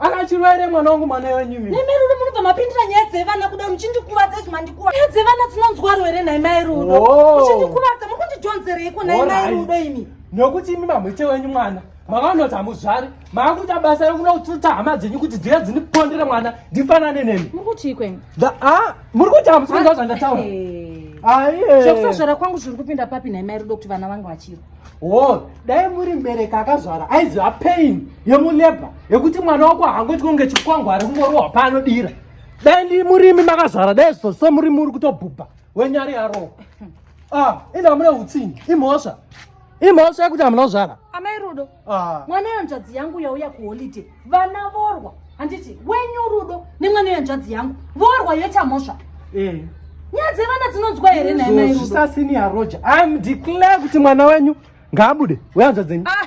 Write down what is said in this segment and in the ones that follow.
akachirwaire mwana wangu mwana wenyu mimi nemeri uri munobva mapindira nyaya dzevana kuda muchindikuvadza izvi mandikuvadza nyaya dzevana dzinonzwaro here nhai mai rudo muchindikuvadza muri kundijonzerei ko nhai mai rudo imi nokuti imi mamwete wenyu mwana makaonoti hamuzvari maakuita basa rekuda kututa hama dzenyu kuti dziya dzinipondere mwana ndifanane nemi muri kutii kwenyu ah, muri kuti hamusikunzwa zvandataura aiye zvekusazvara kwangu zviri kupinda papi nhai mai rudo kuti vana vangu vachiro wo dai muri mbereki akazvara aiziva pain yemulebha yekuti mwana wako hangoitwa kunge chikwangwari kungorohwa paanodira dai ndi murimi makazvara dai zvizoso murimi uri kutobhubha wenyari yarowa ah, ende hamuna utsinyi imhosva imhosva yekuti hamuna kuzvara amai rudo ah. mwana yanzvadzi yangu yauya kuholiday vana vorwa handiti wenyu rudo nemwana yanzvadzi yangu vorwa yoita mhosva eh. nyaya dzevana dzinonzwa here naizvosasini yaroja im declare kuti mwana wenyu ngaabude weanzva dzenyu ah,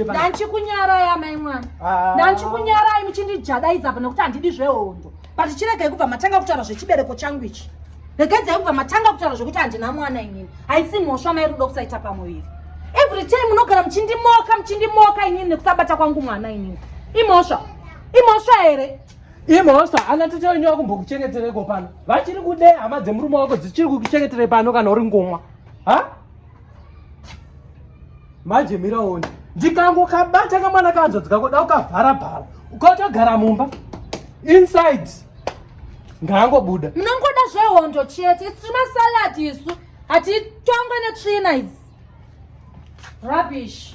ndandichikunyarai amai mwana ah. ndandichikunyarai muchindijadaidza apa nekuti handidi zvehondo but chiregai kubva matanga kutaura zvechibereko changu ichi regedzai kubva matanga kutaura zvekuti handina mwana inini haisi mhosva mai rudo kusaita pamuviri every time munogara muchindimoka muchindimoka inini nekusabata kwangu mwana inini imhosva imhosva here imhosva ana tete wenyu vakumbokuchengetereko pano vachiri kude hama dzemurume wako dzichiri kukuchengetere pano kana uri ngomwa ha manje miraoni ndikangokabata kamwana kanzvadzi kako da ukavhara bhara ukatogara mumba inside ngaangobuda munongoda zvehondo chete isu timasalad isu hatitongwe netsvina idzi rubbish